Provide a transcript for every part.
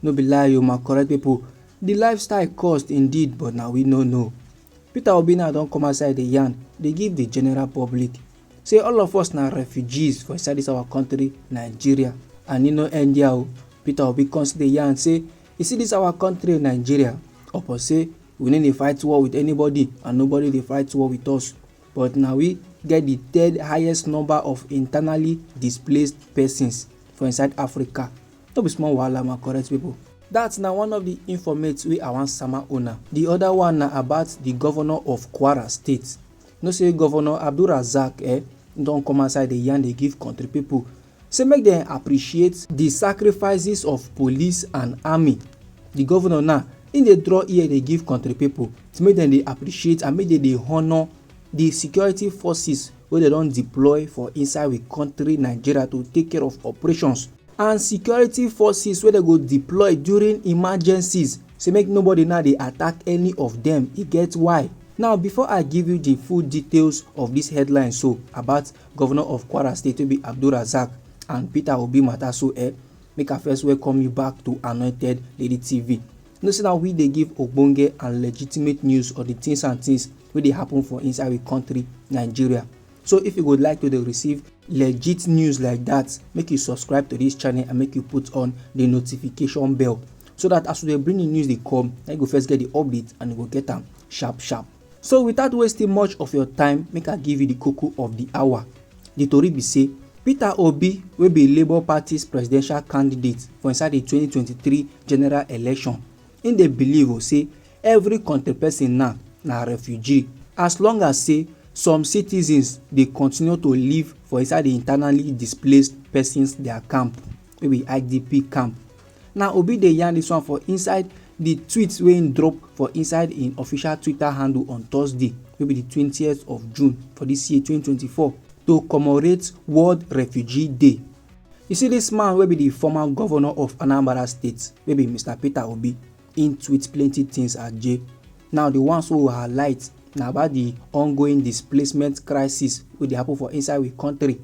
No be lie o my correct people, the lifestyle cost indeed but na we no know. Peter Obi now don come outside dey yarn dey give the general public say all of us na refugees for inside this our country Nigeria and e no end there o. Peter Obi come still dey yarn say you see this our country Nigeria upon say we no dey fight war with anybody and nobody dey fight war with us but na we get the third highest number of internally displaced persons for inside Africa. No be small wahala my correct people. That na one of the informates wey I wan sama una. The other one na about the governor of Kwara state. No say governor Abdulrazak eh, don come outside dey yarn dey give country people say make dem appreciate the sacrifices of police and army. The governor now im dey draw ear dey give country people say make dem dey appreciate and make dem dey honour the security forces wey dem don deploy for inside we country Nigeria to take care of operations. and security forces wey dem go deploy during emergencies say make nobody now dey attack any of dem e get why now before i give you the full details of this headline so about governor of kwara state wey be abdulrasaq and peter obi matter so eh make i first welcome you back to anointed lady tv you know say na we dey give ogbonge and legitimate news of the things and things wey dey happen for inside we country nigeria So if you would like to receive legit news like that, make you subscribe to this channel and make you put on the notification bell so that as we dey bring the news dey come na you go first get the update and you go get am sharp sharp so without wasting much of your time make i give you the koko of the hour the tori be say peter obi wey be labour party's presidential candidate for inside the 2023 general election Im dey believe o say every kontri pesin now na refugee as long as say some citizens dey continue to live for inside di internally displaced pesins dia camp wey be IDP camp. Na Obi dey yarn dis one for inside di tweet wey im drop for inside im official Twitter handle on Thursday wey be di twentieth of June for dis year twenty twenty four to commemorate World Refugee Day. You see dis man wey be di former governor of Anambra State wey be Mister Peter Obi, im tweet plenty things aje. Now di ones wey we highlight na about di ongoing displacement crisis wey dey happen for inside we country.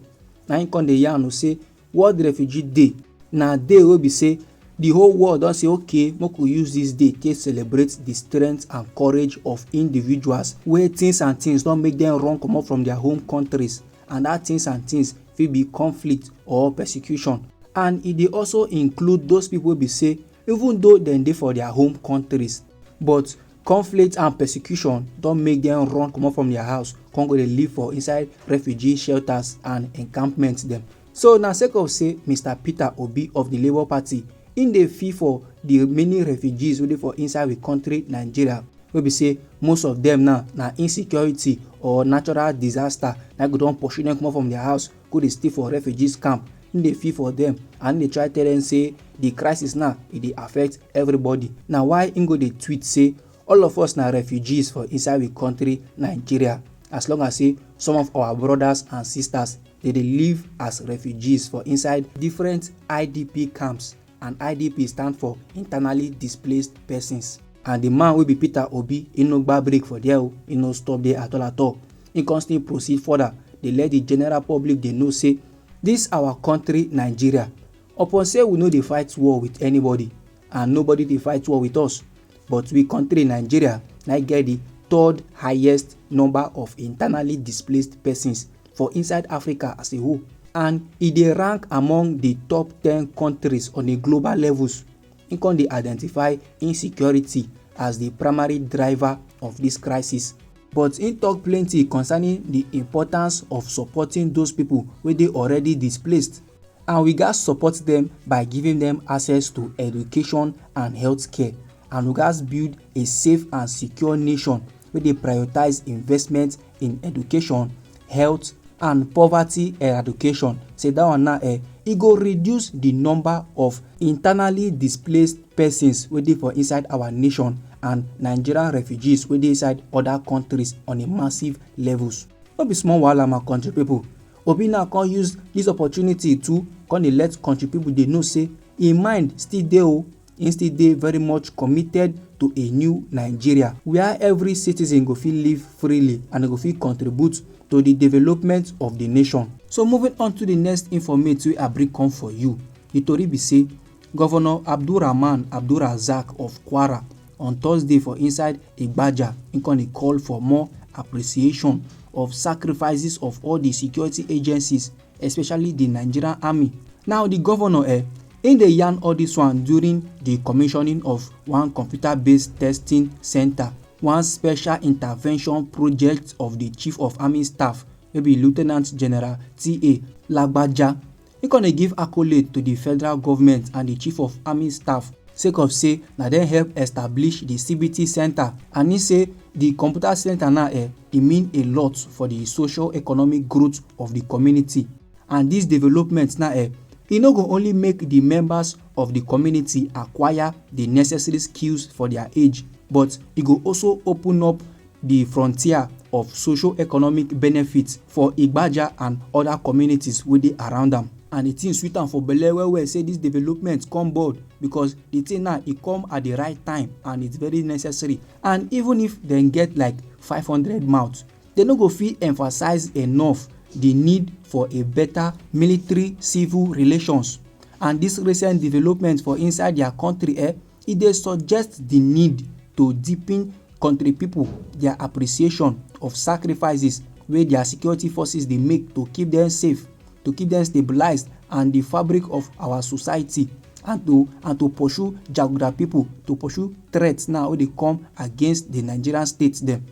Na im come dey yarn o say World Refugee Day na day wey be say di whole world don say okay make we use dis day take celebrate di strength and courage of individuals wey things and things don make dem run comot from their home countries and dat things and things fit be conflict or persecution and e dey also include those people wey be say even though dem dey for their home countries but conflict and persecution don make dem run comot from their house come go dey live for inside refugee shelters and encampments dem so na sake of say mr peter obi of the labour party im dey fee for the many refugees wey dey for inside we country nigeria wey be say most of them now na insecurity or natural disaster na go don pursue them comot from their house go dey stay for refugees camp him dey feel for them and him dey try tell them say the crisis now e dey affect everybody na why him go dey tweet say all of us na refugees for inside we country nigeria as long as say some of our brothers and sisters dey dey live as refugees for inside different idp camps and idp stand for internally displaced persons and di man wey be peter obi e no gba break for there o e no stop there at all at all e con still proceed further dey let di general public dey know say dis our country nigeria upon say we no dey fight war with anybody and nobody dey fight war with us but we country nigeria na get di third highest number of internally displaced persons for inside Africa as a whole and e dey rank among di top ten kontris on a global levels. Im come dey identify insecurity as di primary driver of dis crisis. But im tok plenty concerning di importance of supporting those pipo wey dey already displaced and we gatz support dem by giving dem access to education and healthcare and we gatz build a safe and secure nation wey dey prioritise investment in education health and poverty eradication say that one now eh, e go reduce the number of internally displaced persons wey dey for inside our nation and nigerian refugees wey dey inside other countries on a massive levels no be small wahala my country people obi now come use this opportunity to come dey let country people dey know say im mind still dey o Im still dey very much committed to a new Nigeria wia every citizen go fit live freely and e go fit contribute to di development of di nation. So moving on to di next informate wey I bring come for you, di tori be say Governor Abdulrahman Abdulrazaq of Kwara on Thursday for inside Igbaja im come dey call for more appreciation of sacrifices of all di security agencies especially di nigerian army now di govnor eh im dey yarn all dis one during di commissioning of one computer based testing centre one special intervention project of di chief of army staff wey be lieutenant general ta lagbaja e con dey give accolade to di federal government and di chief of army staff sake of say na dem help establish di cbt centre and e say di computer centre now eh e mean a lot for di socio-economic growth of di community and dis development na eh, e no go only make di members of di community acquire di necessary skills for dia age but e go also open up di frontier of socio-economic benefits for Igbaja and oda communities wey dey around am. And di tin sweet am for belle well well say dis development come board because di tin na e come at di right time and it's very necessary. and even if dem get like 500 mouths, dem no go fit emphasize enough di need for a better military-civil relations. And dis recent development for inside dia country eh, e dey suggest di need to deepen country pipo dia appreciation of sacrifices wey dia security forces dey make to keep dem safe. to keep them stabilized and the fabric of our society and to and to pursue jaguda people to pursue threats now wey dey come against the nigerian state dem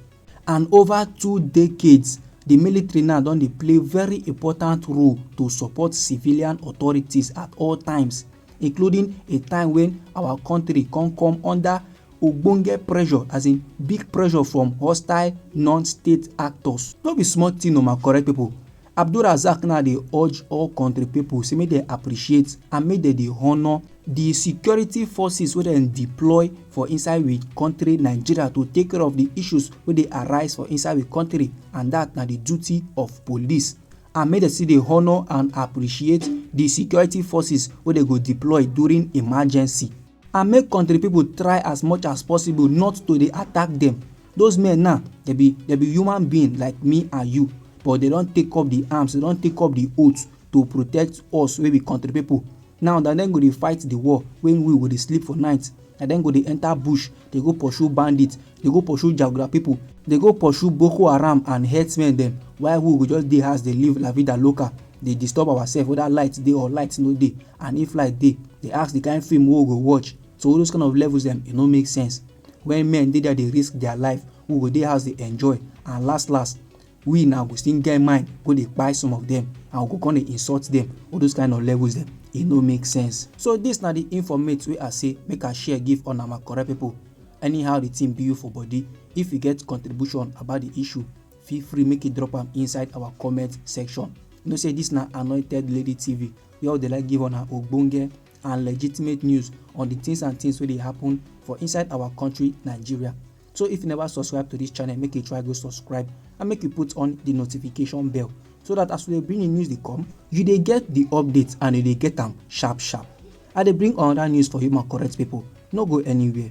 and over two decades the military now don dey play very important role to support civilian authorities at all times including a time when our country come come under ogbonge pressure as in big pressure from hostile non-state actors no be small thing o my correct people Abdulrazaq now dey urge all kontri pipo say make dem appreciate and make dem dey honour di security forces wey dem deploy for inside we kontri Nigeria to take care of di issues wey dey arise for inside we kontri and dat na di duty of police and make dem still dey honour and appreciate di security forces wey dem go deploy during emergency and make kontri pipo try as much as possible not to dey attack dem Those men now, they be they be human being like me and you, but they don take up the arms, they don take up the oath to protect us wey be country people. Now na dem go dey fight the war when we go dey sleep for night. Na dem go dey enter bush, dey go pursue bandits, dey go pursue jaguda people, dey go pursue Boko Haram and herdsmen dem while we go just dey house dey live la vida loca, dey disturb ourselves whether light dey or light no dey and if light dey, dey ask the kind film wey we go watch. So all those kind of levels dem e no make sense. When men dey there dey risk their life, we go dey house dey enjoy and last last we now go still get mind go dey kpai some of them and we go come dey insult them. All those kind of levels dem, e no make sense. So this na the informate wey I say make I share give una my correct people. Anyhow the thing be you for body, if you get contribution about the issue, feel free make you drop am inside our comment section. You know say this na Anointed Lady TV where we dey like give una ogbonge and legitimate news on the things and things wey dey happen for inside our country nigeria so if you never subscribe to this channel make you try go subscribe and make you put on the notification bell so that as we dey bring the news dey come you dey get the update and you dey get am sharp sharp i dey bring another news for you my correct people no go anywhere